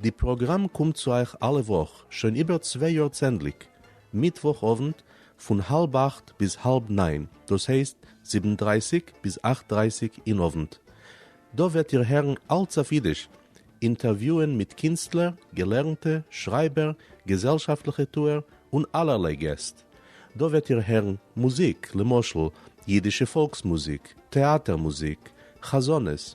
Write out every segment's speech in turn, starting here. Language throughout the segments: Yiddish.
די פראגראם קומט צו אייך אלע וואך שוין איבער צוויי יאר צענדליג מיטוואך אוונט פון האלב אכט ביז האלב ניין דאס הייסט זיבן דרייסיג ביז אכט דרייסיג אין אוונט. דא וועט איר הערן אלץ אויף אידיש, אינטערוויוען מיט קינסטלער, געלערנטע, שרייבער, געזעלשאפטליכע טוער און אלערליי געסט. דא וועט איר הערן מוזיק, למשל אידישע פאלקס מוזיק, טעאטער מוזיק, חזנות,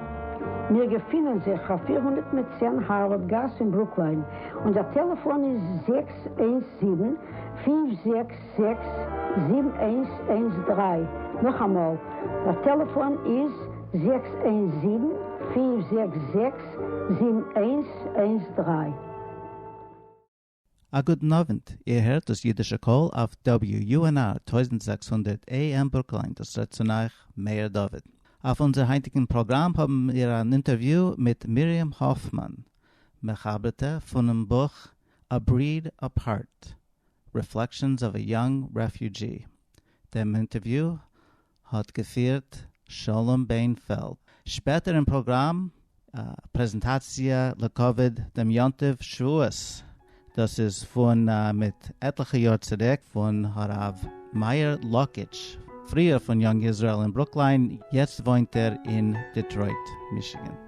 מיר געפינען זיך אויף פֿיר הונדערט מיט צען הארווארד גאס אין ברוקליין, און דער טעלעפאן איז זעקס איינס זיבן, פֿינף זעקס זעקס, זיבן איינס איינס דרײַ, נאכאמאל, דער טעלעפאן איז זעקס איינס זיבן, פֿינף זעקס זעקס, זיבן איינס איינס דרײַ. א גוטן אווענט, איר הערט דאס אידישע קול אויף WUNR טויזנט זעקס הונדערט AM ברוקלין, דאס רעדט צון אייך מאיר דוד. אויף אונזער היינטיגן פראגראם האבן מיר אן אינטערוויו מיט מרים האפמאן, מחברטע פונעם בוך A Breed Apart, Reflections of a Young Refugee. דעם אינטערוויו האט געפירט שלום בענפעלד. שפעטער אין פראגראם א פרעזענטאציע לכבוד דעם יום טוב שבועות, דאס איז פון מיט עטליכע יאר צוריק, פון הרב מאיר לאקיטש, פריער פון יונג איזראעל אין ברוקליין, יעצט וואוינט ער אין דעטרויט, מישיגען.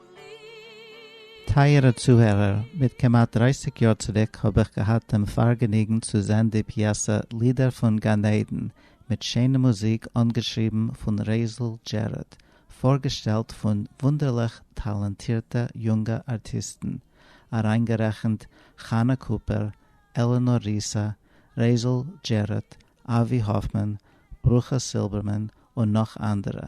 טייערע צוהערער, מיט כמעט דרייסיג יאר צוריק האב איך געהאט דעם פארגעניגן צו זען די פיעסע לידער פון גן עדן, מיט שענע מוזיק אנגעשריבן פון רזל דזשעראד, פארגעשטעלט פון וואונדערליך טאלאנטירטע יונגע ארטיסטן, אריינגערעכנט חנה קופער, עלענאר ריסא, רזל דזשעראד, אבי האפמאן, ברכה סילבערמאן און נאך אנדערע,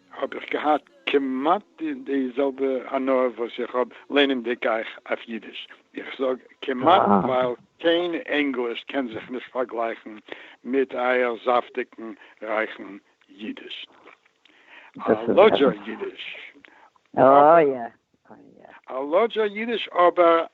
האב איך געהאט כמעט די זעלבע הנאה וואס איך האב לערנענדיג אייך אויף אידיש, איך זאג כמעט ווייל קיין ענגליש קען זיך נישט פארגלייכן מיט אייער זאפטיגן רייכן אידיש, א לאדזשער אידיש אבער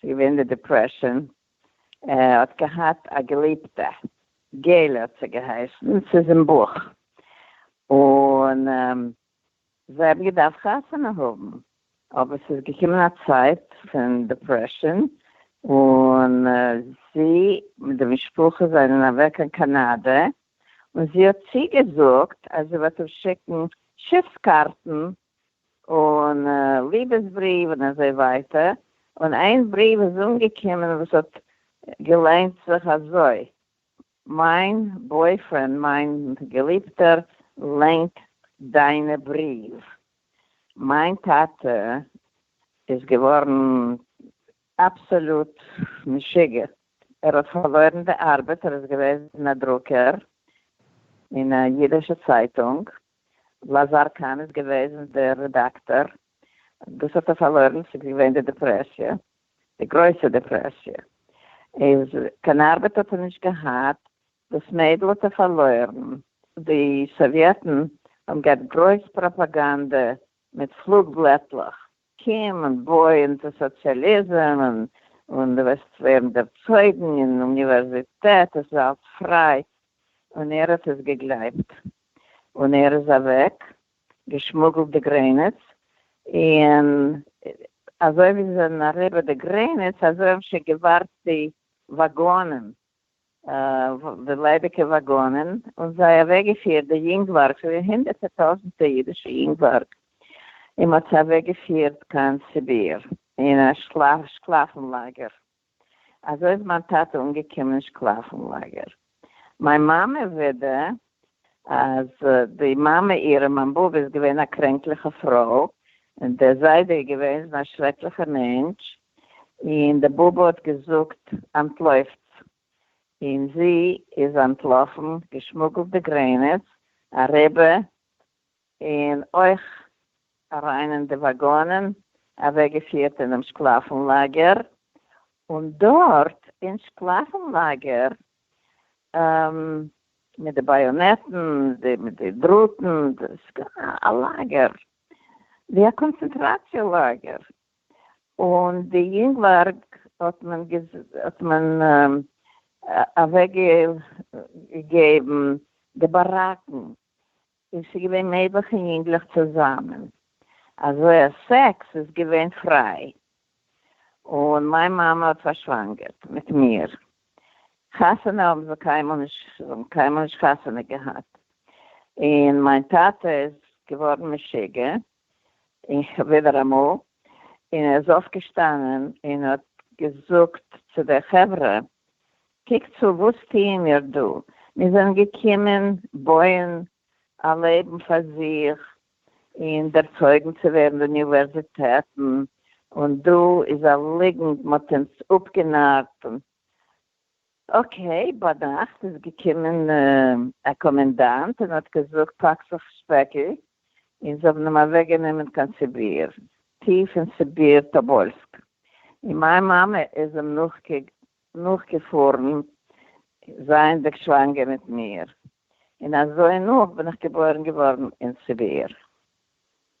ס'איז געווען די דיפרעשאן, ער האט געהאט א געליבטע, געל האט זי געהייסן, ס'איז אין בוך, און זיי האבן געדארפט חתונה האבן, אבער ס'איז געקומען א צייט פון דיפרעשאן, און זי מיט די משפחה זענען אוועק קיין קאנאדע, און זי האט צוגעזאגט אז זי וועט אים שיקן שיפס קארטן און ליבעס בריוו און אזוי ווייטער, און איין בריוו איז אנגעקומען וואס האט געליינט זיך אזוי, מיין בויפרענד מיין געליבטער ליינט דיינע בריוו, מיין טאטע איז געווארן אבסאלוט משוגע, ער האט פארלוירן די ארבעט, ער איז געוועזן א דרוקער אין א אידישע צייטונג, לאזאר קאהן איז געוועזן דער רעדאקטאר, דאס האט ער פארלוירן, ס'איז געווען די דעפרעסיע, די גרויסע דעפרעסיע, איז קיין ארבעט האט ער נישט געהאט, דאס מיידל האט ער פארלוירן, די סאוויעטן האבן געהאט גרויס פראפאגאנדע מיט פלוג בלעטלעך, קום און בוי אונטער סאציאליזם און דו וועסט ווערן דערצויגן אין אוניווערזיטעט, עס איז אלץ פריי, און ער האט עס געגלייבט, און ער איז אוועק, געשמוגלט די גרעניץ, און אזוי ווי זיי זענען אריבער די גרעניץ אזוי האבן שוין געווארט די וואגאנען. די ליידיגע וואגאנען און זיי אוועקגעפירט די יונגווארג, ס'זענען הונדערטער טויזנטער אידישע יונגווארג, און מ'האט זיי אוועקגעפירט קיין סיביר אין א שקלאפן לאגער. אזוי איז מיין טאטע אנגעקומען אין שקלאפן לאגער. מיין מאמע ווידער אז די מאמע אירע מיין באבע איז געווען א קרענקליכע פרוי, און דער זיידע איז געוועזן א שרעקליכע מענטש, און די באבע האט געזאגט אנטלויפטס, און זי איז אנטלאפן, געשמוגלט די גרעניץ אריבער און אויך אריין אין די וואגאנען, אוועקגעפירט אינעם שקלאפן לאגער, און דארט אין שקלאפן לאגער, מיט די באיאנעטן, מיט די דראטן, א לאגער, ווי א קאנצענטראציע לאגער, און די יונגווארג האט מען אוועקגעגעבן די באראקן, און ס'איז געווען מעגליך אין יונגלעך צוזאמען, אזוי אז סעקס איז געווען פריי, און מיין מאמע האט פארשוואנגערט מיט מיר, חתונה האבן זיי קיינמאל נישט, זיי האבן קיינמאל נישט חתונה געהאט, און מיין טאטע איז געווארן משוגע, ווידער אמאל, און ער איז אויפגעשטאנען און האט געזאגט צו די חברה, קוקט צו, וואס טוען מיר דא? מיר זענען געקומען בויען א לעבן פאר זיך און ערצויגן צו ווערן אין אוניווערזיטעטן, און דא איז א ליגנט, מען האט אונז אפגענארט און אקעי, ביינאכט איז געקומען א קאמענדאנט און האט געזאגט פאק זיך שפעקל, און זיי האבן אים אוועק גענומען קיין סיביר, טיף אין סיביר טאבאלסק, און מיין מאמע איז אים נאכגעפארן זייענדיג שוואנגער מיט מיר, און אזוי נאך בין איך געבוירן געווארן אין סיביר.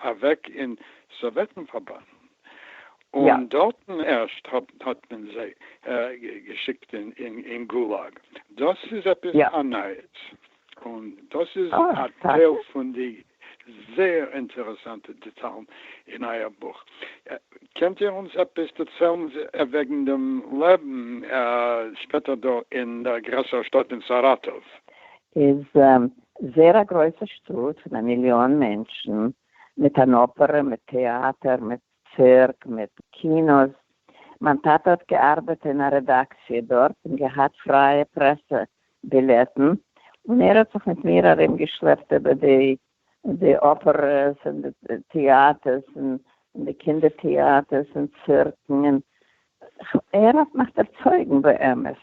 אַװעק אין סאָװעטן-פֿאַרבאַנד, יא. און דאָרטן ערשט האָט מען זײ געשיקט אין גולאַג. דאָס איז עפּעס יא. אַ נײַס, און דאָס איז אַ אָ, טאַקע? טײל פֿון די זײער אינטערעסאַנטע דעטאַלן אין אײַער בוך. קענט איר אונדז עפּעס דערצײלן װעגן דעם לעבן שפּעטער דאָ אין דער גרעסערער שטאָט אין סאַראַטאָװ? איז זעהר א גרויסע שטאט פון א מיליאן מענטשן, מיט אן אפערע, מיט טעאטער, מיט צירק, מיט קינאס. מיין טאטע האט געארבעט אין א רעדאקציע דארט און געהאט פרייע פרעסע בילעטן, און ער האט זיך מיט מיר ארום געשלעפט איבער די די אפערעס און די טעאטערס און די קינדער טעאטערס און צירקן, און ער האט מיך ערצויגן באמת.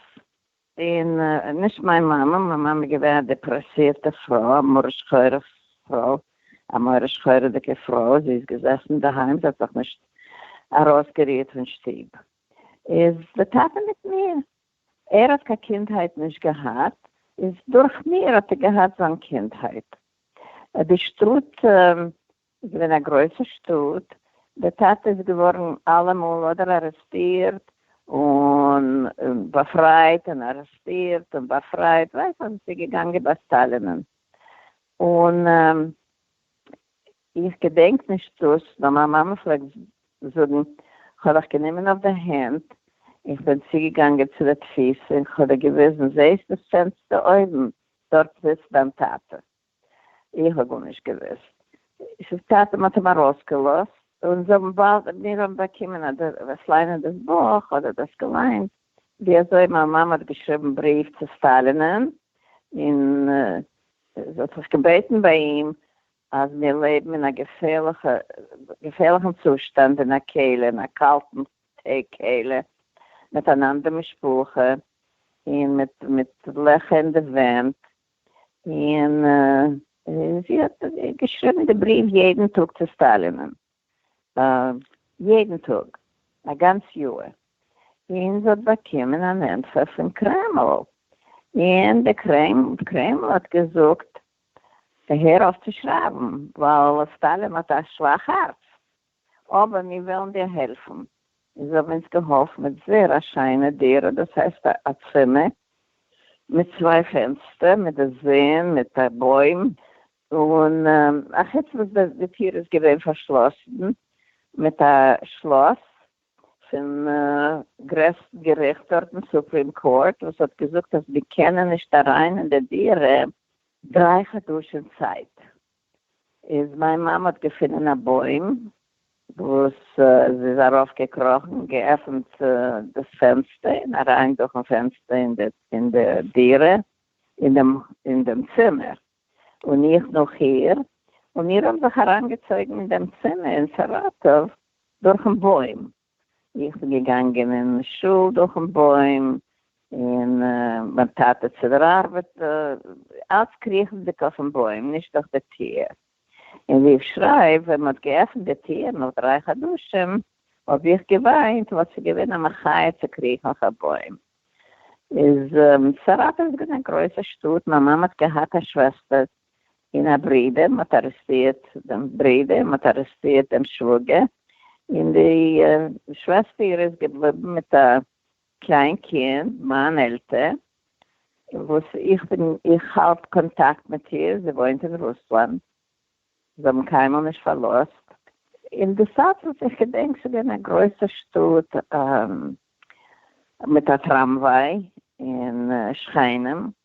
און נישט מיין מאמע, מיין מאמע איז געווען א דעפרעסירטע פרוי, א מרה שחורה פרוי, א מרה שחורה'דיגע פרוי, זי איז געזעסן אינדערהיים, זי האט זיך נישט ארויסגערירט פון שטוב. איז די טאטע מיט מיר, ער האט קיין קינדהייט נישט געהאט, איז דורך מיר האט ער געהאט זיין קינדהייט. די שטאט איז געווען א גרויסע שטאט, דער טאטע איז געווארן אלעמאל אדער ארעסטירט און באפרייט און ארעסטירט און באפרייט, ווייסט אז עס איז געגאנגען ביי סטאלינען, און איך געדענק נישט דאס, נאר מיין מאמע פלעגט זאגן, כ'האב דיך גענומען אויף די הענט, איך בין צוגעגאנגען צו די תפיסה און כ'האב דיר געוויזן, זעסט דאס פענסטער אויבן, דארט זיצט דיין טאטע. איך האב גארנישט געוואוסט. עס איז צייט אז מען האט אים ארויסגעלאזט, און זיי האבן באלד, מיר האבן באקומען אדער איך ליינען דאס בוך אדער דאס געליינט ווי אזוי מיין מאמע האט געשריבן בריוו צו סטאלינען און זי האט זיך געבעטן ביי אים אז מיר לעבן אין א געפערליכע געפערליכן צושטאנד אין א קעלער אין א קאלטן טעג קעלער מיט אן אנדער משפחה און מיט מיט לעכער אין די ווענט. און זי האט געשריבן די בריוו יעדן טאג צו סטאלינ'ן, יעדן טאג א גאנץ יאר, און זי האט באקומען אן ענטפער פון קרעמל, און די קרעמל האט געזאגט הער אויף צו שרייבן, ווייל סטאלין האט א שוואך הארץ. אבער מיר וועלן דיר העלפן. און זיי האבן אונז געהאלפן מיט זעהר א שיינע דירה, דאס הייסט א צימער מיט צוויי פענסטער, מיט די זון, מיט א בוים, און א חוץ וואס די טיר איז געווען פארשלאסן מיט א שלאס פון גרעסטן געריכט דארטן, סופרים קאורט, וואס האט געזאגט אז מיר קענען נישט אריין אין די דירה דריי חדשים צייט. איז מיין מאמע האט געפונען א בוים וואס זי איז ארויף געקראכן געעפענט דאס פענסטער און אריין דורכן פענסטער אין די דירה אין דעם צימער און איך נאך איר און מיר האבן זיך אריינגעצויגן אין דעם צימער אין סאראטאוו דורכן בוים. איך בין געגאנגען אין שול דורכן בוים, און מיין טאטע צו דער ארבעט, אלץ קריכנדיג אויפן בוים, נישט דורך די טיר. און ווי איך שרייב, ווען מ'האט געעפנט די טיר נאך דריי חדשים, האב איך געוויינט, ווייל ס'איז געווען א מחיה צו קריכן אויף א בוים. איז סאראטאוו איז געווען א גרויסע שטאט, מיין מאמע האט געהאט א שוועסטער, און א ברודער, מען האט ארעסטירט דעם ברודער, מען האט ארעסטירט דעם שוואגער, און די שוועסטער איז געבליבן מיט א קליין קינד, מיין עלטער, וואס איך בין, איך האלט קאנטאקט מיט איר, זי וואוינט אין רוסלאנד, זיי האבן קיינמאל נישט פארלאזט, און די סאטמאר, איך געדענק ס'איז געווען א גרויסע שטאט מיט א טראמוויי, און שכנים.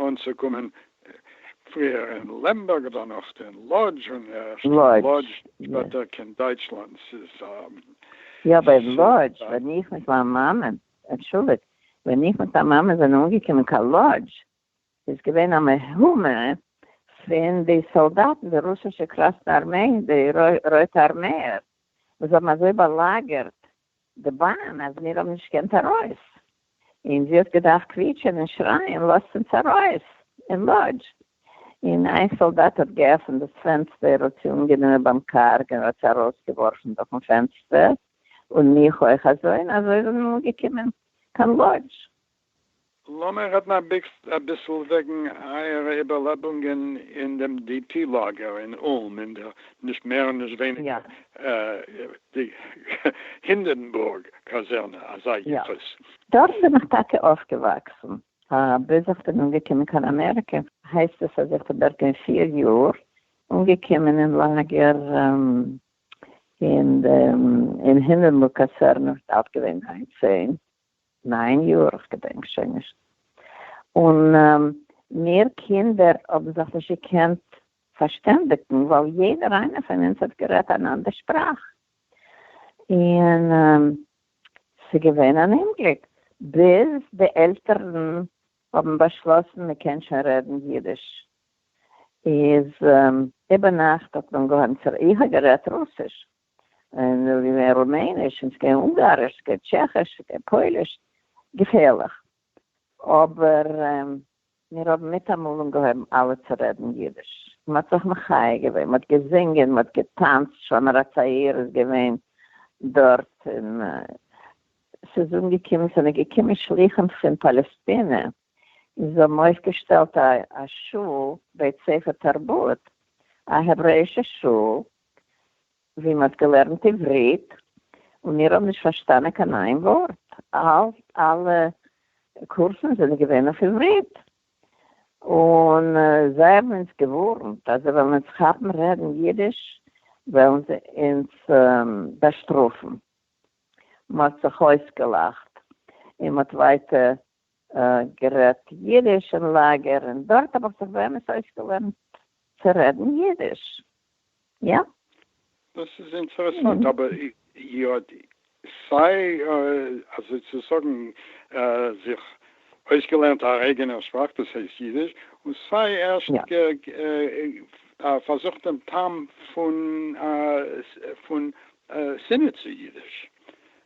אנצוקומען פריער אין לעמבערג דערנאך אין לאדזש און ערשט אין לאדזש שפעטער קיין דייטשלאנד ס'איז א יא ווייל לאדזש ווען איך מיט מיין מאמע אנטשולדיגט ווען איך מיט מיין מאמע זענען אנגעקומען קיין לאדזש איז געווען א מהומה פון די סאלדאטן די רוסישע קראסנע ארמעי די רויטע ארמעיער וואס האבן אזוי באלאגערט די באן אז מיר האבן נישט געקענט ארויס און זי האט געדארפט קוויטשען און שרייען לאזט אונז ארויס אין לאדזש און איין סאלדאט האט געעפענט דאס פענסטער האט זי אנגענומען ביים קארג און האט זי ארויסגעווארפן דורכן פענסטער און מיך אויך אזוי און אזוי זענען מיר אנגעקומען קיין לאדזש לאמיר רעדן אביסל וועגן אייערע איבערלעבונגען אין דעם די פי לאגער אין אולם אין דער נישט מער און נישט ווייניגער די הינדענבורג קאזערנע אזא יחוס. דארט בין איך טאקע אויפגעוואקסן. ביז איך בין אנגעקומען קיין אמעריקע, הייסט עס אז איך בין דארט געווען פיר יאר, אנגעקומען אין לאגער אין הינדענבורג קאזערנע, דארט געווען ניין צען נײַן יאָר, איך געדענק שוין נישט, און מיר קינדער האָבן זיך נישט געקענט פֿאַרשטענדיקן, ווײַל יעדער איינער פֿון אונדז האָט גערעדט אַן אַנדער שפּראַך, און ס'איז געווען אַן אומגליק, ביז די עלטערן האָבן באַשלאָסן, מע קען שוין רעדן ייִדיש, איז איבערנאַכט האָט אָנגעהויבן צו רעדן. איך האָב גערעדט רוסיש. און נאר ווי מער רומעניש און ס'קען אונגאריש ס'קען טשעכיש ס'קען פויליש, געפערליך, אבער מיר האבן מיטאמאל אנגעהויבן אלע צו רעדן אידיש, מ'האט זיך מחיה געווען, מ'האט געזינגען, מ'האט געטאנצט, שומר הצעיר איז געווען דארט, און ס'איז אנגעקומען, ס'זענען געקומען שלוחים פון פאלעסטינע און זיי האבן אויפגעשטעלט א שול, בית ספר תרבות, א העברעאישע שול, ווי מ'האט געלערנט עברית, און מיר האבן נישט פארשטאנען קיין איין ווארט, אלע קורסן זענען געווען אויף עברית, און זיי האבן אונז געווארנט אז זיי וועלן אונז כאפן רעדן אידיש וועלן זיי אונז באשטראפן, מ'האט זיך אויסגעלאכט און מ'האט ווייטער גערעדט יידיש אין לאגער און דארט האב איך זיך באמת אויסגעלערנט צו רעדן יידיש. יא. דאס איז אינטערעסאנט, אבער יא, סיי אזוי צו זאגן זיך אויסגעלערנט א אייגענער שפראך דאס הייסט יידיש, און סיי ערשט פארזוכט דעם טעם פון שנאה צו יידיש,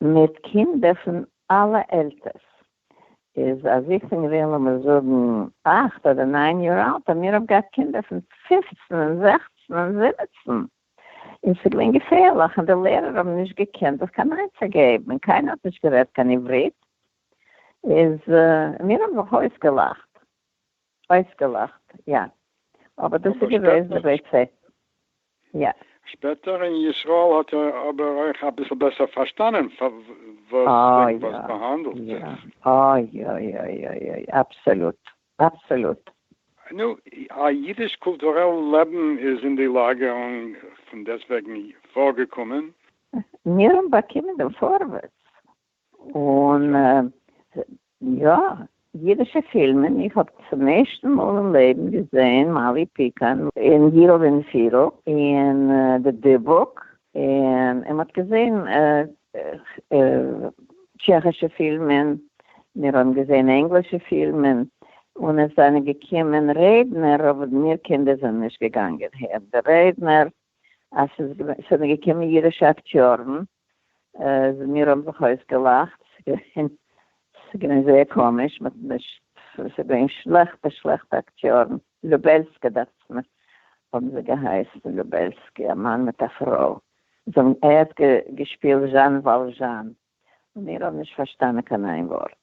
מיט קינדער פון אלע עלטערס, איז אז איך בין געווען לאמיר זאגן אכט אדער ניין יאר אלט האבן מיר אויף געהאט קינדער פון פֿופֿצן און זעכצן און זיבעצן, און ס'איז געווען געפערליך און די לערער האבן נישט געקענט זיך קיין עצה געבן און קיינער האט נישט גערעדט קיין עברית, איז מיר האבן זיך אויסגעלאכט. אויסגעלאכט, יא. אבער דאס איז געוועזן די ביצה. יא. שפעטער אין ישראל האט ער אבער אויך אביסל בעסער פארשטאנען וועגן וואס ס'האנדלט זיך. אוי אוי אוי אוי אוי. אבסעלוט. אבסעלוט. נו, א אידיש קולטורעל לעבן איז אין די לאגערונג פון דעסטוועגן פארגעקומען. מיר האבן באקומען דעם פארווערטס. און יא, אידישע פילמען, איך האב צום ערשטן מאל אין לעבן געזען מאלי פיקאן אין יידל ווען פירל אין די דיבוק, און מען האט געזען טשעכישע פילמען, מיר האבן געזען ענגלישע פילמען, און עס זענען געקומען רעדנער, אבער מיר קינדער זענען נישט געגאנגען הערן די רעדנער, עס זענען געקומען אידישע אקטיארן, אז מיר האבן זיך אויסגעלאכט, ס'איז געווען זייער קאמיש, מ'האט נישט, ס'איז געווען שלעכטע שלעכטע אקטיארן, לובעלסקי דאכצעך מיר האבן זיי געהייסן, לובעלסקי, א מאן מיט א פרוי, זיי האבן, ער האט געשפילט זשאן וואלזשאן, און מיר האבן נישט פארשטאנען קיין איין ווארט,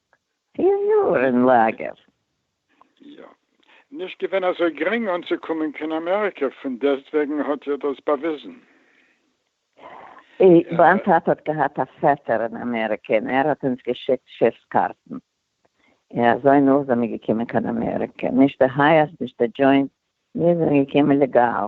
פיר יאר אין לאגער. יא. נישט געווען אזוי גרינג אנצוקומען קיין אמעריקע, פון דעסטוועגן האט איר דאס באוויזן. מיין טאטע האט געהאט א פעטער אין אמעריקע און ער האט אונז געשיקט שיפס קארטן, און אזוי נאך זעמיר געקומען קיין אמעריקע, נישט די הייעס נישט די דזשוינט, מיר זענען געקומען לעגאל.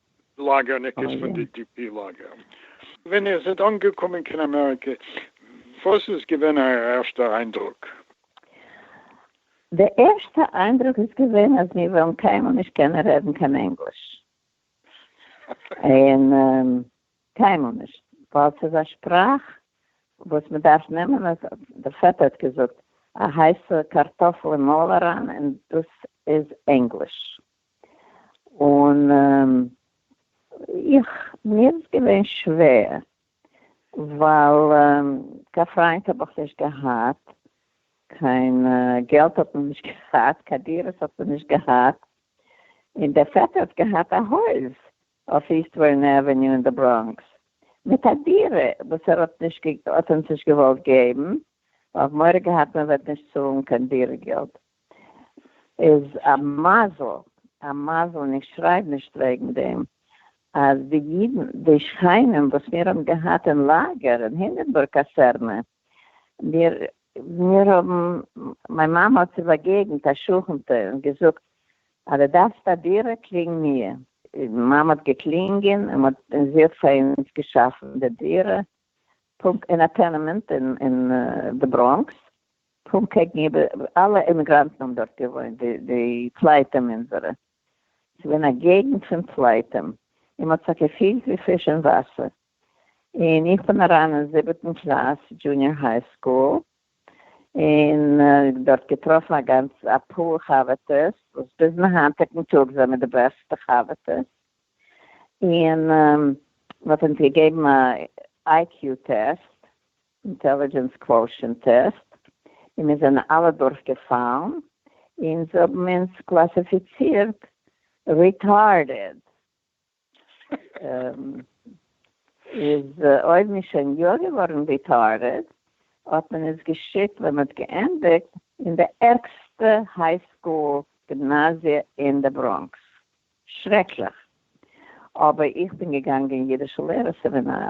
לאגער ניק איז פון די די פי לאגער. ווען איר זענט אנגעקומען קיין אמעריקע וואס איז געווען אייער ערשטע איינדרוק? די ערשטע איינדרוק איז געווען אז מיר וועלן קיינמאל נישט קענען רעדן קיין ענגליש, און קיינמאל נישט, ווייל ס'איז א שפראך וואס מען דארף נעמען אויף, דער פעטער האט געזאגט, א הייסע קארטאפל אין מויל אריין, און דאס איז ענגליש. און איך, מיר איז געווען שווער, ווייל קיין פריינט האב איך נישט געהאט, קיין געלט האט מען נישט געהאט, קיין דירות האט מען נישט געהאט, און דער פעטער האט געהאט א הויז אויף איסט ווארען עוועניו אין די בראנקס, מיט א דירה וואס ער האט נישט, האט אונז נישט געוואלט געבן, ווייל מורא געהאט מען וועט נישט צאלן קיין דירה געלט. איז א מזל א מזל און איך שרייב נישט וועגן דעם אז די אידן די שכנים וואס מיר האבן געהאט אין לאגער אין הינדענבורג קאסערנע מיר מיר האבן מיין מאמע האט זיך באגעגנט א שכנ'טע און געזאגט אז די דארפסט א דירה קלינג מיר. מיין מאמע האט געקלינגען און מ'האט און זי האט פאר אונז געשאפן די דירה פונקט אין א טענעמענט אין די בראנקס פונקט קעגן איבער, אלע אימיגראנטן האבן דארט געוואוינט, די פלייטים אונזערע, ס'געווען א געגנט פון פלייטים, און מ'האט זיך געפילט ווי פיש אין וואסער, און איך בין אריין אין זיבעטן קלאס דזשוניאר היי סקול, און דארט געטראפן א גאנץ אפאר חבר'טעס, וואס ביזן היינטיגן טאג זעמיר די בעסטע חבר'טעס, און מ'האט אונז געגעבן א איי קיו טעסט, אינטעלידזשענס קוואושענט טעסט, און מיר זענען אלע דורך געפאלן, און זיי האבן אונז קלאסיפיצירט ריטארדעד. איז אויב מ'איז שוין יא געווארן ריטארדעד, האט מען אונז געשיקט ווען מ'האט געענדיגט אין די ערגסטע היי סקול גימנאזיע אין די בראנקס. שרעקליך. אבער איך בין געגאנגען אידישע לערער סעמינאר.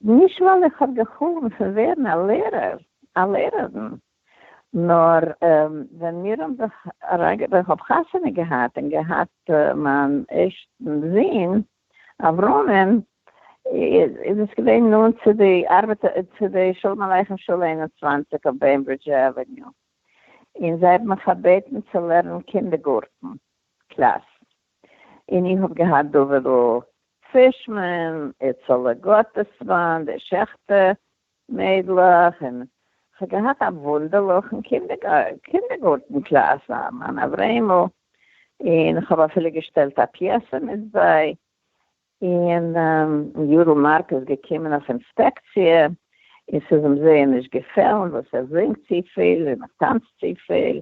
נישט ווייל איך האב געחלומט פון ווערן א לערער, א לערערין, נאר ווען מיר האבן זיך אריינגע. ווען כ'האב חתונה געהאט און געהאט מיין ערשטן זון אברהמ'ן, איז עס געווען נאנט צו די ארבעט, צו די שלום עליכם שולע איין און צוואַנציק אויף בעמברידזש עוועניו, און זיי האבן מיך פארבעטן צו לערנען קינדערגארטן קלאס. און איך האב געהאט דובערל פרישמען, איצעלע גאטעסמאן, די שעכטער מיידלעך, און כ'האב געהאט א וואונדערליכן קינדערגארטן קלאס, א מאן אברעימל, און כ'האב אפילו געשטעלט א פיעסע מיט זיי, און יודל מארק איז געקומען אויף אינספעקציע, און ס'איז אים זייער נישט געפעלן וואס איך זינג צופיל און איך טאנץ צופיל,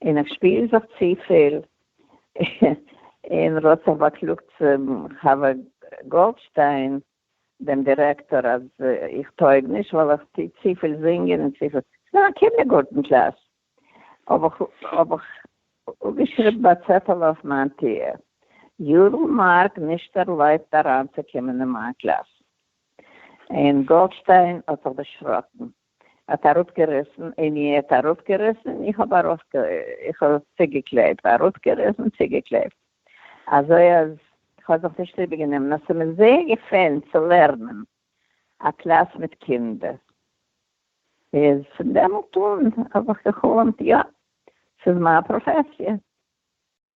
און איך שפיר זיך צופיל און ר'האט זיך באקלאגט צום חבר גאלדשטיין דעם דירעקטאר אז איך טויג נישט ווייל איך טו צופיל זינגען און צופיל, ס'איז א קינדערגארטן קלאס, האב איך האב איך אפגעשריבן א צעטעל אויף מיין טיר, יודל מארק נישט ערלויבט אריינצוקומען אין מיין קלאס, און גאלדשטיין האט זיך דערשראקן. האט אראפגעריסן, עני האט אראפגעריסן, איך האב ארויף איך האב צוגעקלעבט, אראפגעריסן צוגעקלעבט, אזוי אז כ'האב זיך נישט איבערגענומען, און ס'מיר זייער געפעלן צו לערנען א קלאס מיט קינדער, איז פון דעמאלט אן האב איך גע'חלומ'ט יא, ס'איז מיין פראפעסיע.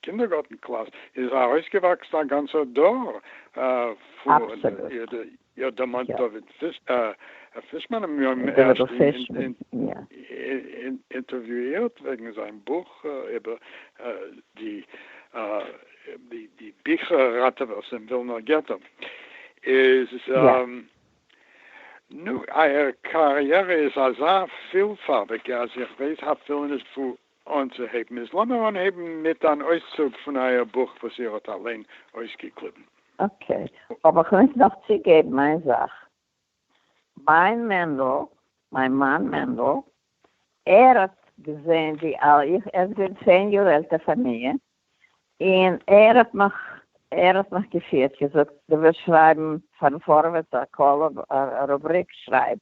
קינדערגארטן קלאס איז ארויסגעוואקסן א גאנצער דור פון איר דערמאנט דוד פישמאן מיר האבן אים ערשט אינטערוויאירט וועגן זיין בוך איבער די ביכער ראטעווערס אין ווילנער געטא איז נו אייער קאריערע איז אזא פילפארביגע אז איך ווייס אפילו נישט וואו אנצוהייבן איז לאמיר אנהייבן מיט אן אויסצוג פון אייער בוך וואס איר האט אליין אויסגעקליבן. אקעי, אבער כ'מוז נאך צוגעבן איין זאך. מיין מענדל, מיין מאן מענדל, ער האט געזען ווי ער איז געווען צען יאר עלטער פון מיר, און ער האט מיך ער האט מיך געפירט, געזאגט, דו ווילסט שרייבן פארן פארווערטס א קאלום, א רובריק, שרייב.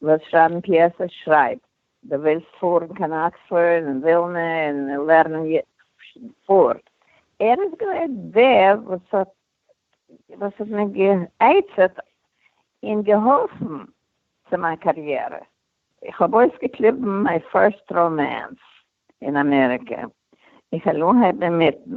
דו ווילסט שרייבן פיעסעס, שרייב. די ווילסט פארן קיין אקספארד און ווילנע און לערנען יו ט פארט. ער איז געווען דער וואס האט וואס האט מיר גע'עצה'ט און געהאלפן צו מיין קאריערע. איך האב אויסגעקליבן מיין פירסט ראמענס אין אמעריקא, איך העל אנהייבן אינמיטן.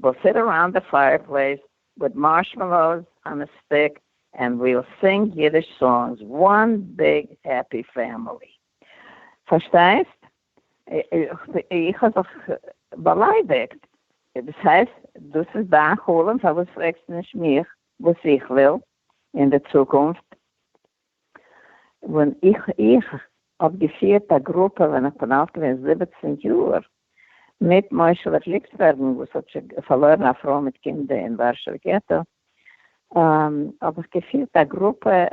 וויל סיט אראונד די פייער פלעיס וויט מארשמעלאוס אן א סטיק ענד וויל סינג אידיש סאנגס, וואן ביג העפי פעמילי. פארשטייסט? איך האב זיך באליידיגט. דאס הייסט דאס איז דיין חלום פארוואס פרעגסטו נישט מיך וואס איך וויל אין די צוקונפט? ווען איך איך האב געפירט א גרופע ווען איך בין אלט געווען זיבעצן יאר, מיט מושל'ע גליקסבערגן וואס האט שוין פארלוירן א פרוי מיט קינדער אין ווארשעווע געטא, האב איך געפירט א גרופע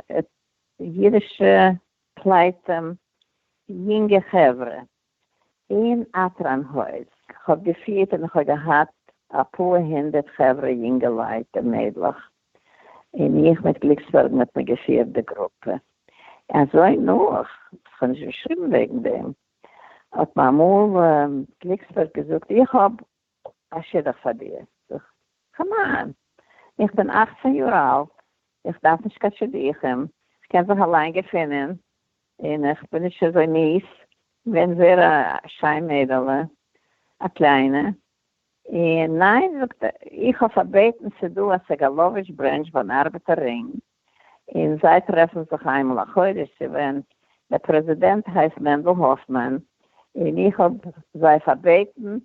אידישע פלייטים יונגע חברה, אין א פראנהויז, כ'האב געפירט און כ'האב געהאט אפאר הונדערט חברה יונגעלייט און מיידלעך, און איך מיט גליקסבערגן האט מען געפירט די גרופע אזוי נאך, כ'האב נישט געשריבן וועגן דעם, האט מיר אמאל גליקסבערג געזאגט איך האב א שידוך פאר דיר? זאגט כ'מיין, איך בין אכצען יאר אלט, איך דארף נישט קיין שידוכים, כ'קען זיך אליין געפינען, און איך בין נישט אזוי מיס, ווען ווער א שיין מיידעלע, א קליינע, און ניין זאגט ער, איך האב פארבעטן ס'דא א סעגאלאוויטש ברענטש באן ארבעטער רינג, און זיי טרעפן זיך איינמאל א חודש צו ווען דער פרעזידענט הייסט מענדל האפמאן, און איך האב זיי פארבעטן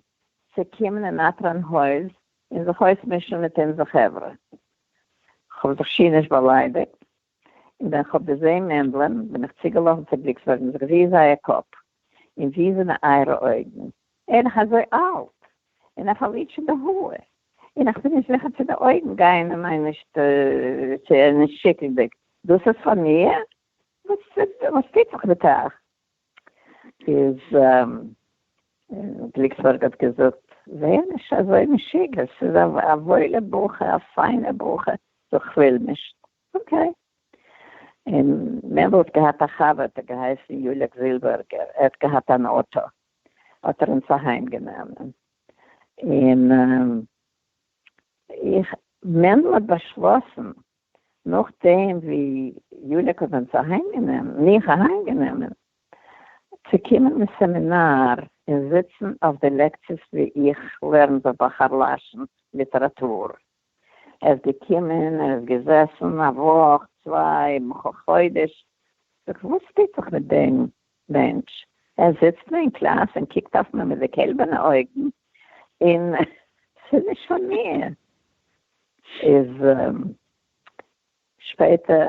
צו קומען אין אטרען הויז און זיך אויסמישן מיט אונזער חברה. כ'האב זיך שיער נישט באליידיגט, און ווען כ'האב געזעהן מענדל'ען בין איך צוגעלאפן צו בליקסבערג'נס געזעהן זייער קאפ און זי זענען אייערע אויגן. אין איך אזוי אלט, אין איך פארליער שוין די האר, אין איך בין נישט זיכער צו די אויגן גייען אין מיין נישט צו אין נישט שיקלדיג, דאס איז פאר מיר? וואס טוט זיך מיט אייך? איז גליקסבערג האט געזאגט, ווער נישט אזוי משוגע, ס'איז א וואוילע בחור, א פיינע בחור, דאך כ'וויל נישט, אקעי. אין מענדל האט געהאט א חבר האט געהייסן יולעק זילבערגער, ער האט געהאט אן אוטא, האט ער אונז אהיים גענומען, און איך, מענדל האט באשלאסן, נאכדעם ווי יוליק האט אונז אהיים גענומען, מיך אהיים גענומען, צו קומען אין סעמינאר און זיצן אויף די לעקציעס ווי איך לערן בבחר לשון ליטעראטור, ער איז געקומען, ער איז געזעסן א וואך, צוויי, מיך א חודש. זאג, וואס טוט זיך מיט דעם מענטש? ער זיצט נאר אין קלאס און קוקט אויף מיר מיט די קעלבערנע אויגן, און ס'איז נישט פאר מיר. איז שפעטער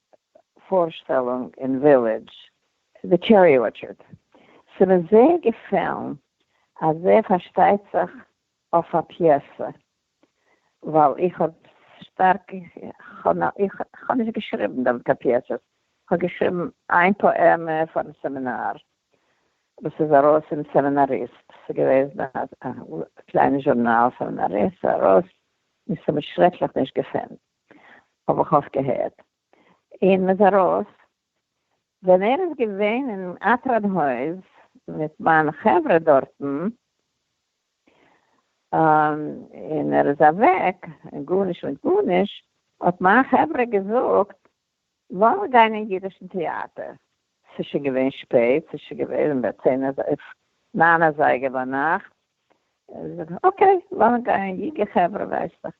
פארשטעלונג אין ווילידזש. די טשערי ארטשערד. ס'איז מיר זייער געפעלן אז ער פארשטייט זיך אויף א פיעסע, ווייל איך האב שטארק, כ'האב נישט געשריבן דארט קיין פיעסעס, כ'האב געשריבן איין פאעמע פארן סעמינאר, וואס איז ארויס אין סעמינאריסט, ס'איז געוועזן א קליינע זשורנאל סעמינאריסט, ס'איז ארויס, און ס'האט מיר שרעקליך נישט געפעלן. האב איך אויך געהערט, און מ'איז ארויס, ווען ער איז געווען אין אטרד הויז מיט מיין חברה דארטן, און ער איז אוועק, און גארנישט מיט גארנישט, האט מיין חברה געזאגט, וועלן גיין אין אידישן טעאטער. ס'איז שוין געווען שפעט, ס'איז שוין געווען ביי צען אזייגער, ניין אזייגער ביינאכט, איז ער געווען אקעי וועלן גיין, יונגע חברה ווייסטעך,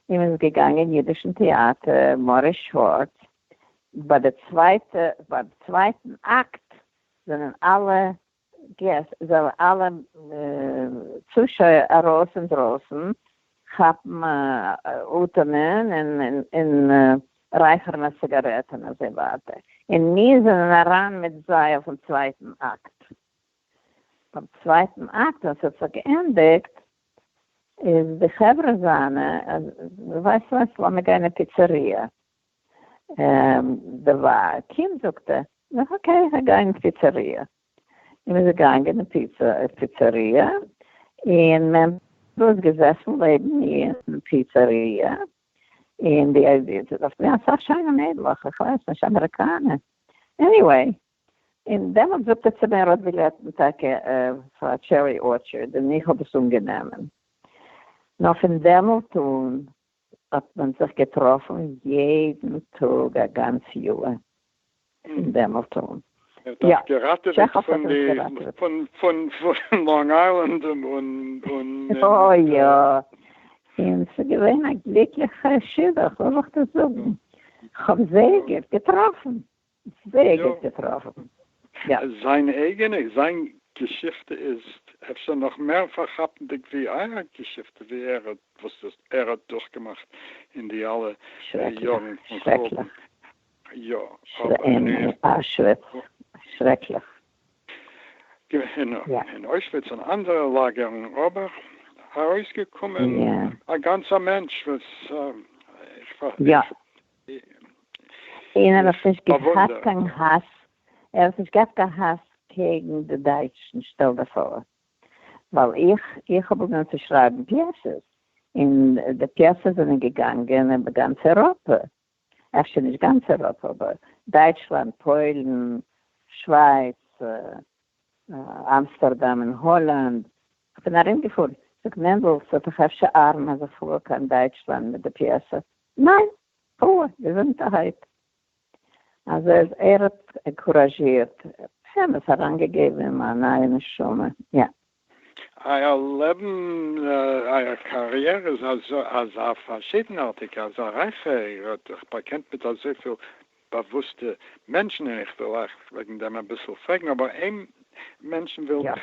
און מ'איז געגאנגען אין אידישן טעאטער מאריס שווארץ, ביי די צווייטע, ביי די צווייטן אקט זענען אלע געסט זאלן אלע צושויער ארויס אינדרויסן כאפן אטעמען און רייכערן א ציגארעט און אזוי ווייטער, און מיר זענען אריין מיט זיי אויפן צווייטן אקט. ביים צווייטן אקט ווען ס'האט זיך געענדיגט איז די חברה זיינע, ווייסט וואס, לאמיר גיין אין פיצעריא. די ווייב קומט זאגט ער נאך אקעי איך גיי גיין אין פיצעריע, און מען איז געגאנגען אין פיצעריע, און מען איז געזעסן לעבן אין פיצעריע, און די איז דארט געווען אסאך שיינע מיידלעך, איך ווייס נישט אמעריקאנע, עניוועי, און דעמאלטס זאגט ער צו מיר ער האט בילעטן טאקע פאר טשערי ארטשערד, און איך האב עס אנגענומען, נאר פון דעמאלט אן האט מען זיך געטראפן יעדן טאג א גאנץ יאהר אין דעמעלטאן. ער האט אייך געראטעוועט פון די פון פון פון לאנג איילענד און און און. אוי יא, און ס'איז געווען א גליקליכע שידוך, וואס זאל איך דיר זאגן, כ'האב זייגער געטראפן. וועג האט געטראפן. זיין אייגענע, זיין געשיכטע איז אפשר נאך מער פארכאפנדיג ווי אייער געשיכטע ווי ער האט וואס ער האט דורכגעמאכט אין די אלע יארן פון חורבן. שרעקליך. אין אוישוויץ און אנדערע לאגערן אבער ארויסגעקומען א גאנצער מענטש וואס איך. און ער האט נישט געהאט קיין האס, ער האט נישט געהאט קיין האס קעגן די דייטשן, שטעל דיך פאר, ווייל איך איך האב באגונען צו שרייבן פיעסעס, און די פיעסעס זענען געגאנגען איבער גאנץ אייראפע, אפשר נישט גאנץ אייראפע, אבער דייטשלאנד, פוילן, שווייץ, אמסטערדאם און האלאנד, כ'בין ארומגעפארן, זאגט מענדל, ס'וועט דאך אפשר ארן אז איך פאר קיין דייטשלאנד מיט די פיעסע? ניין, פולע געזונטערהייט. אז ער האט ענקוראזשירט, באמת אריינגעגעבן אים א נייע נשמה, יא. אייער לעבן, אייער קאריערע איז אזא פארשידנארטיגע, אזא רייכע, איר האט זיך באקענט מיט אזויפיל באוואוסטע מענטשן, און איך וויל אייך וועגן דעם אביסל פרעגן, אבער איין מענטשן וויל איך.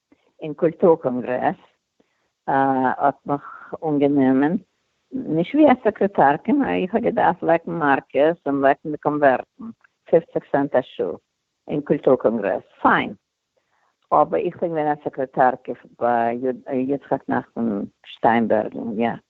אין קולטור קאנגרעס האט מיך אנגענומען, נישט ווי א סעקרעטארקע, נאר איך האב געדארפט לעקן מארקערס און לעקן די קאנווערטן, פופציג סענט א שעה אין קולטור קאנגרעס, פיין, אבער איך בין געווען א סעקרעטארקע ביי יצחק נחמן שטיינבערגן, יא.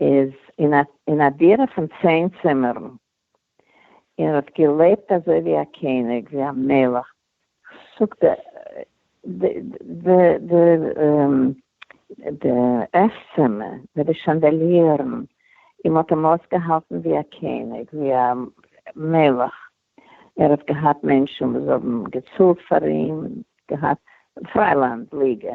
איז אין א דירה פון צען צימערן, ער האט געלעבט אזוי ווי א קעניג, ווי א מלך, זאגט ער, די עסצימער, מיט די שאנדעליערן, אים האט אים אויסגעהאלטן ווי א קעניג, ווי א מלך, ער האט געהאט מענטשן וואס האבן געצאלט פאר אים, געהאט פריילאנד ליגע.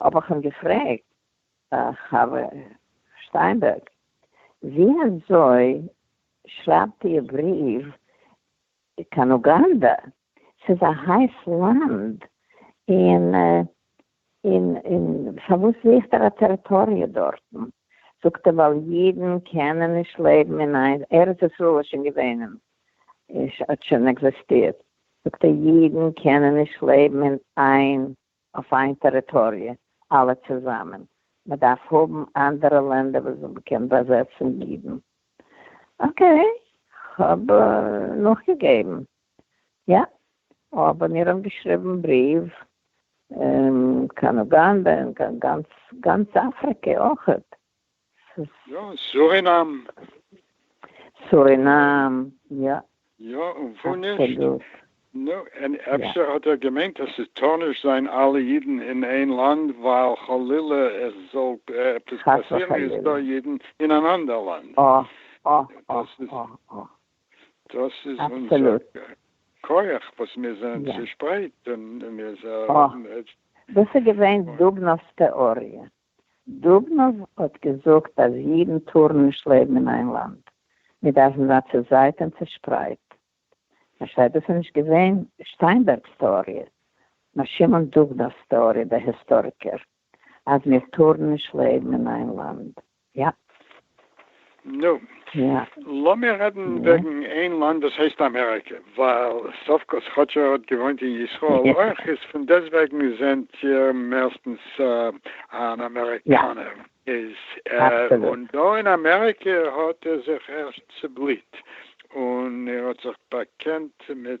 האב איך אים געפרעגט, חבר שטיינבערג, ווי אזוי שרייבט איר בריוו קיין אוגאנדא? ס'איז א הייס לאנד, און און פארוואס זוכט ער א טעריטאריע דארטן? זאגט ער, ווייל אידן קענען נישט לעבן אין איין, ארץ ישראל איז שוין געווען, האט שוין עקזעסטירט, זאגט ער, אידן קענען נישט לעבן אין איין אויף איין טעריטאריע אלע צוזאמען, מען דארף האבן אנדערע לענדער וואס מען קען באזעצן אידן, אקעי כ'האב נאכגעגעבן, יא אבער מיר האבן געשריבן בריוו קיין אוגאנדע און קיין גאנץ גאנץ אפריקע אויכעט, יא, סורינאם. סורינאם, יא. יא, און וואו נישט? נו, און אפשר האט ער געמיינט אז ס'טאר נישט זיין אלע אידן אין איין לאנד ווייל חלילה עס זאל עפעס פאסירן איז דא אידן אין אן אנדער לאנד. דאס איז אונזער כח וואס מיר זענען צושפרייט און מיר. דאס איז געווען דובנאוו'ס טעאריע. דובנאוו האט געזאגט אז אידן טארן נישט לעבן אין איין לאנד, מיר דארפן זיין צוזייט און צושפרייט. פארשטייט דאס איז נישט געווען שטיינבערג'ס טעאריע, נאר שמעון דובנאוו'ס טעאריע, דער היסטאריקער, אז מיר טארן נישט לעבן אין איין לאנד. יאפ. נו, לאמיר רעדן וועגן איין לאנד וואס הייסט אמעריקע, ווייל סוף כל כאטש ער האט געוואוינט אין ישראל אויך, איז פון דעסטוועגן זענט איר מערסטנס אן אמעריקאנער, איז און דא אין אמעריקע האט ער זיך ערשט צובליט און ער האט זיך באקענט מיט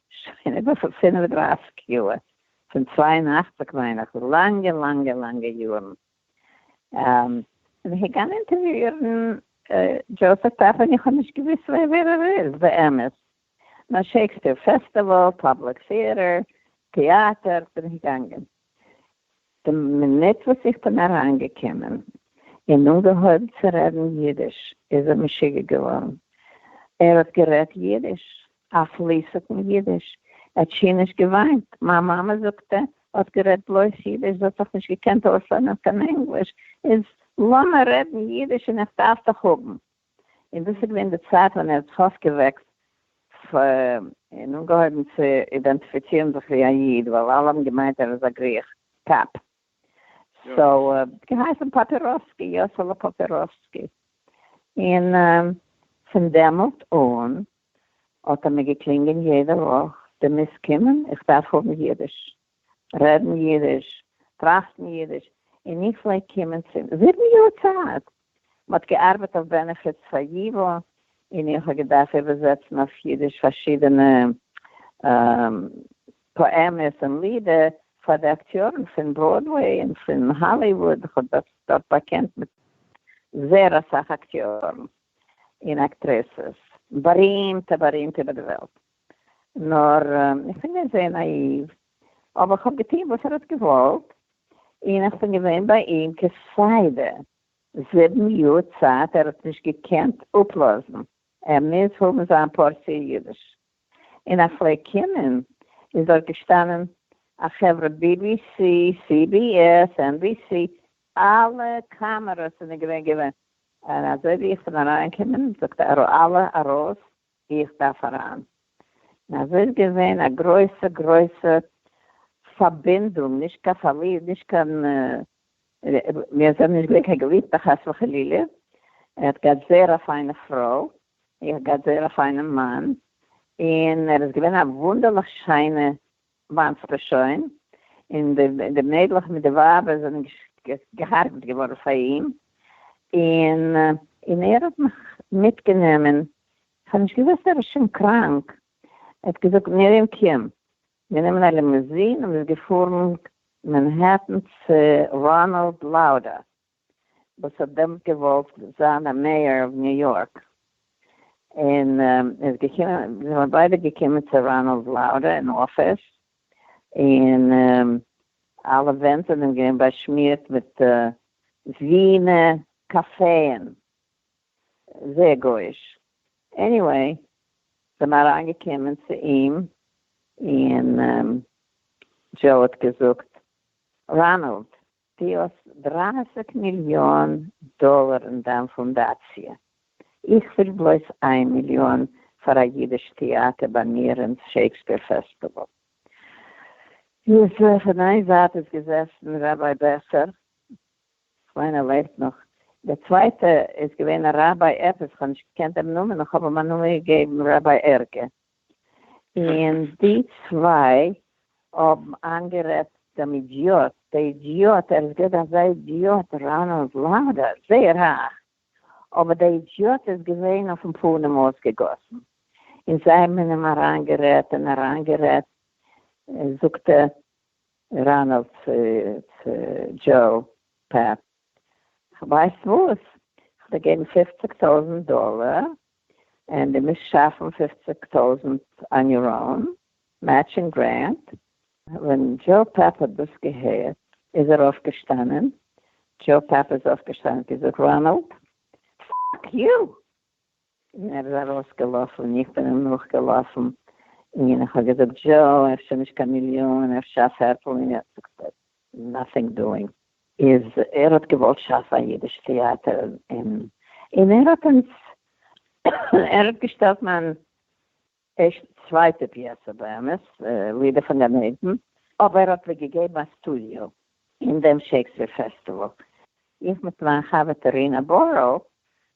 שוין איבער פון פינף און דרייסיג יאר, פון צוויי און אַכציק מיין איך, לאנגע לאנגע לאנגע יארן, און איך בין געגאנגען אינטערוויאירן דזשאוסעף פעפער, און איך האב נישט געוואוסט ווער ער איז באמת, נאר שעיקספעיר פעסטיוואל, פובליק טעאטער, טעאטער, בין איך געגאנגען, די מינוט וואס איך בין אריינגעקומען און אנגעהויבן צו רעדן אידיש איז ער משוגע געווארן, ער האט גערעדט אידיש, א פליסיגן אידיש, ער האט שיער נישט געוויינט, מיין מאמע זאגט ער האט גערעדט בלויז אידיש, זי האט דאך נישט געקענט אויסלערנען קיין ענגליש, איז לאמיר רעדן אידיש און איך דארף דיך האבן. און דאס איז געווען די צייט ווען ער האט פארט געוועקט און אנגעהויבן צו אידענטיפיצירן זיך ווי א איד, ווייל אלע האבן געמיינט ער איז א גריך קאפ. סאו ער האט געהייסן פאפיראסקי, יאסעלע פאפיראסקי. און פון דעמאלט אן האט ער מיר געקלינגען יעדע וואך, דו מוזט קומען, איך דארף האבן אידיש. רעדן יידיש, טראכטן יידיש, און איך פלעג קומען צום זיבן יאר צייט, מ'האט געארבעט אויף בענעפיטס פאר ייווא, און איך האב געדארפט איבערזעצן אויף יידיש פארשידענע פאעמעס און לידער פאר די אקטיארן פון בראדוועי און פון האליוואוד, איך האב זיך דארט באקענט מיט זעהר אסאך אקטיארן און אקטרעסעס, בארימטע בארימטע איבער די וועלט. נאר איך בין געווען זייער נאאיוו, אבער איך האב געטון וואס ער האט געוואלט, און איך בין געווען ביי אים כסדר זיבן יאר צייט, ער האט נישט געקענט אפלאזן, ער מוז האבן זיין פארציע אידיש, און איך פלעג קומען, איז דארט געשטאנען א חברה בי בי סי, סי בי עס, ען בי סי, אלע קאמערעס זענען געווען געווען, און אזוי ווי איך בין אריינגעקומען זאגט אלע ארויס, ווי איך דארף אריין. און אזוי איז געווען א גרויסע גרויסע פארבינדונג, נישט קיין פארליב, נישט קיין, מיר זענען נישט געווען קיין געליבטע חס וחלילה, ער האט געהאט זייער א פיינע פרוי, איך געהאט זייער א פיינעם מאן, און ער איז געווען א וואונדערליך שיינע מיינסטו שוין? און די מיידלעך מיט די ווייבער זענען גע'הרג'ט געווארן פאר אים, און ער האט מיך מיטגענומען, כ'האב נישט געוואוסט ער איז שוין קראנק, ער האט געזאגט מרים קום, גענומען א לימוזין און מ'איז געפארן מאנהעטן צו ראנאלד לאודער, וואס האט דעמאלט געוואלט זיין א מעיאר אוו ניו יארק, און איז געקומען, זיי זענען ביידע געקומען צו ראנאלד לאודער אין אפיס, און אלע ווענט זענען געווען באשמירט מיט ווינע קאפעען, זייער גויאיש, עניוועי, זענען אריינגעקומען צו אים, און דזשאו האט געזאגט, ראנאלד, די האסט דרײַסיק מיליאן דאלער אין דיין פונדאציע, איך וויל בלויז איין מיליאן פאר א אידיש טיאטער ביי מיר אין שעיקספעיר פעסטיוואל. איז פון איין זייט איז געזעסן ראביי בעסער, כ'מיין ער לעבט נאך, דער צווייטער איז געווען א ראביי עפעס, כ'האב נישט געקענט דעם נאמען, און כ'האב אים א נאמען געגעבן ראביי ערגער. און די צוויי האבן איינגערעדט דעם אידיאט, דער אידיאט, ער איז געווען אזא אידיאט ריין און זלאנד, זייער רייך, אבער דער אידיאט איז געווען אויפן פנים אויסגעגאסן, און זיי האבן אין אים אריינגערעדט און אריינגערעדט, זאגט ראנעלד צו דזשאו פעפ, כ'ווייס וואס, כ'וועל געבן פופציג טויזנט דאלער, און די מוזט שאפן פופציג טויזענט אן יור און מעטשינג גרענט, ווען דזשאו פעפ האט דאס געהערט איז ער אויפגעשטאנען, דזשאו פעפ איז אויפגעשטאנען האט געזאגט ראנאלד פאק יו! און ער איז ארויס געלאפן און איך בין אים נאך געלאפן און איך האב געזאגט דזשאו אפשר נישט קיין מיליאן אפשר א פערטל מיליאן זאגט ער נאטינג דואינג. איז ער האט געוואלט שאפן א אידיש טעאטער אין און ער האט אונז ער האט געשטעלט מיין ערשטע צווייטע פיעסע באמת לידער פון גן עדן אבער ער האט מיר געגעבן א סטודיאו אין דעם שייקספיר פעסטיוואל איך מיט מיין חבר'טע רינה בוראו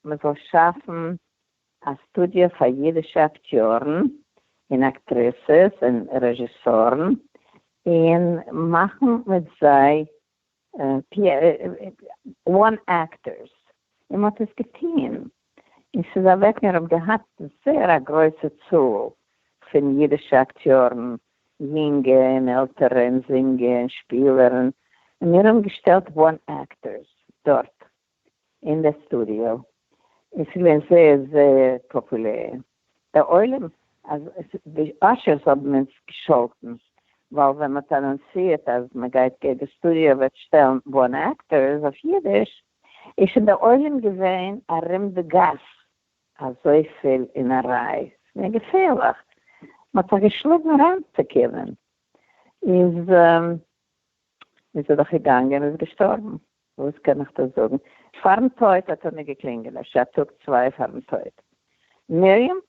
מ'זאל שאפן א סטודיא פאר אידישע אקטיארן און אקטריסעס און רעזשיסארן, און מאכן מיט זיי וואן אקטערס, און מען האט עס געטוהן, און ס'איז אוועק, מיר האבן געהאט זייער א גרויסע צאל פון אידישע אקטיארן, יונגע און עלטערע, און זינגער און שפילער, און מיר האבן געשטעלט וואן אקטערס דארט. אין די סטודיאו, און ס'איז געווען זייער זייער פאפולער, דער עולם אז די אשערס האבן אונז געשאלטן, ווייל ווען מ'האט אנאנסירט אז מ'גייט גייט די סטודיאו וועט שטעלן בארן עקטארס אויף אידיש, איז שוין דער עולם געווען ארום די גאס, אזויפיל אין א ריי, ס'איז געווען געפערליך, מ'האט זיך געשלאגן אריינצוקומען, איז. איז ער דאך געגאנגען איז געשטארבן וואס קען איך דא זאגן פארן טויט האט ער מיר געקלינגעלעשט א טאג צוויי פארן טויט מרים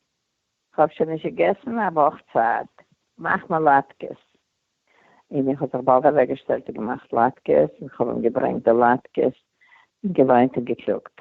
כ'האב שוין נישט געגעסן א וואך צייט מאך מיר לאטקעס און איך האב זיך באלד אוועקגעשטעלט און געמאכט לאטקעס און כ'האב אים געברענגט די לאטקעס און געוויינט און געקלאגט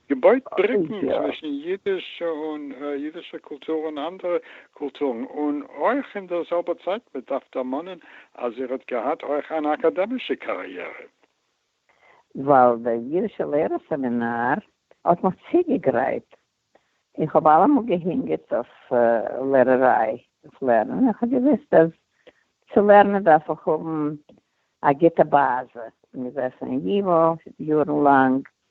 געבויט בריקן צווישן אידיש און אידישע קולטור און אנדערע קולטורן, און אויך אין דער זעלבער צייט מען דארף דערמאנען אז איר האט געהאט אויך אן אקאדעמישע קאריערע. ווייל דער יידישע לערער סעמינאר האט מיך צוגעגרייט, איך האב אלעמאל געהינגערט אויף לערעריי, אויף לערנען, איך האב געוואוסט אז צו לערנען דארף איך האבן א גוטע באזע, געזעסן אין ייווא יארן לאנג,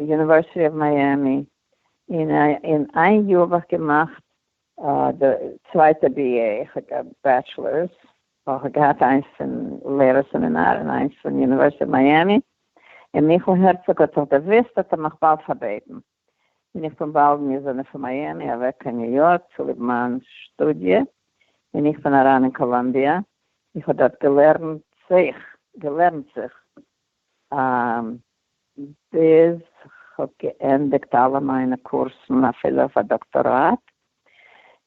יוניווערסיטי אוו מיאמי, און אין איין יאר האב איך געמאכט די צווייטע בי עי, איך האב געהאט בעטשלערס, איך האב געהאט איינס פון לערער סעמינאר און איינס פון יוניווערסיטי אוו מיאמי, און מיכאל הערצאג האט זיך דערוואוסט האט ער מיך באלד פארבעטן, און איך בין באלד געזענען פון מיאמי אוועק קיין ניו יארק צוליב מיין שטודיע, און איך בין אריין אין קאלאמביע, איך האב דארט געלערנט זיך געלערנט זיך ביז כ'האב געענדיגט אלע מיינע קורסן אפילו אויף א דאקטאראט,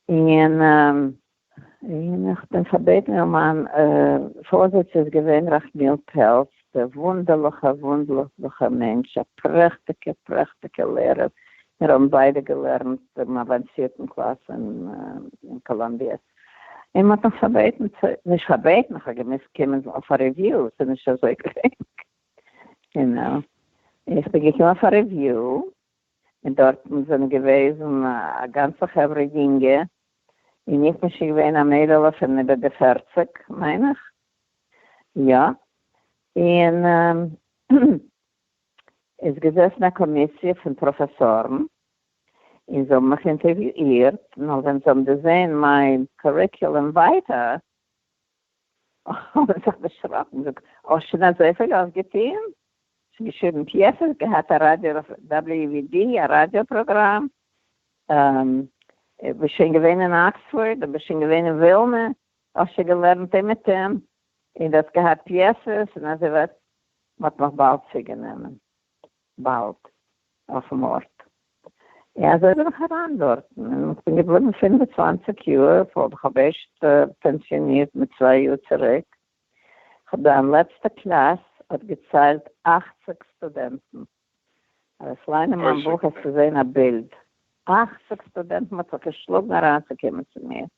און און כ'בין פארבעטן און מיין פארזיץ איז געווען רחמיאל פעלץ, דער וואונדערליכע וואונדליכע מענטש, א פרעכטיגע פרעכטיגע לערער, מיר האבן ביידע געלערנט דעם אוואנסירטן קלאס אין קאלאמביע, און מ'האט מיך פארבעטן צו, נישט פארבעטן, איך האב געמוזט קומען אויף א ריוויו, ס'איז נישט אזוי גרינג, יו נאו. איך בין געקומען אויף א ריוויו, און דארטן זענען געוועזן א גאנצע חברה יונגע, און איך בין שוין געווען א מיידעלע פון איבער די פערציג, מיין איך, יא. און עס איז געזעסן א קאמיסיע פון פראפעסארן, און זיי האבן מיך אינטערוויאירט, נאר ווען זיי האבן דערזען מיין קוריקולום ווייטא האבן זיי זיך דערשראקן און געזאגט, האסט שוין אזויפיל אויפגעטון? שוין געשריבן פיעסעס, געהאט א ראדיא WVD א ראדיא פראגראם, ביסט שוין געווען אין אקספארד, דו ביסט שוין געווען אין ווילנע, האסט שוין געלערנט אומעטום, און דו האסט געהאט פיעסעס, און אזוי ווייטער, מען האט מיך באלד צוגענומען. באַלד אויפֿן אָרט. און אַזוי בין איך אַרײַן דאָרטן און כ'בין געבליבן פֿינף און צוואַנציק יאָר, פֿאָר איך האָב ערשט פּענסיאָנירט מיט צוויי יאָר צוריק. כ'האָב דאָ אין לעצטער קלאַס אָט געציילט אַכציק סטודענטן. אַז איך לייען אין מײַן בוך, העסטו זען אַ בילד. אַכציק סטודענטן האָט זיך געשלאָגן אַרײַנצוקומען צו מיר.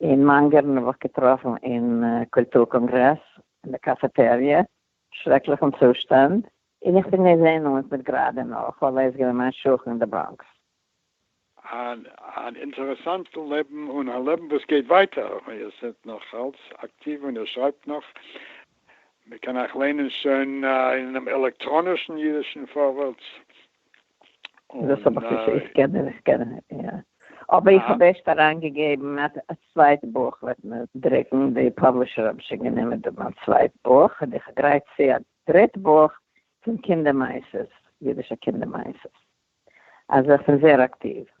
אין מאנגערן האב איך געטראפן אין קולטור קאנגרעס אין די קאפעטעריע, שרעקליכן צושטאנד, און איך בין געווען אונז מיט גראדע נאך ווייל ער איז געווען מיין שכן אין די בראנקס. אן אינטערעסאנטן לעבן און א לעבן וואס גייט ווייטער, איר זענט נאך אלץ אקטיוו און איר שרייבט נאך, מען קען אייך ליינען שוין אינעם עלעקטראנישן אידישן פארווערטס, דאס האב איך נישט, איך קען איך קען יא, אבער איך האב ערשט אריין געגעבן א צווייט בוך וועט מען דרוקן, די פאבלישער האבן שוין גענומען די מיין צווייט בוך, און איך גרייט צו א דריט בוך פון קינדער מעשות, אידישע קינדער מעשות, אזוי איך בין זעהר אקטיוו.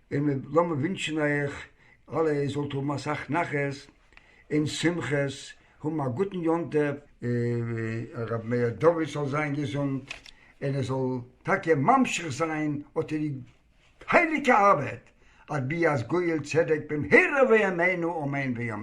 און לאמיר ווינטשן אייך אלע איר זאלט האבן אסאך נחת און שמחות, האבן א גוטן יום טוב. ר' מאיר דוד זאל זיין געזונט און ער זאל טאקע ממשיך זיין אט די הייליגע ארבעט, אבי אז גואל צדק במהרה בימינו אמן ואמן.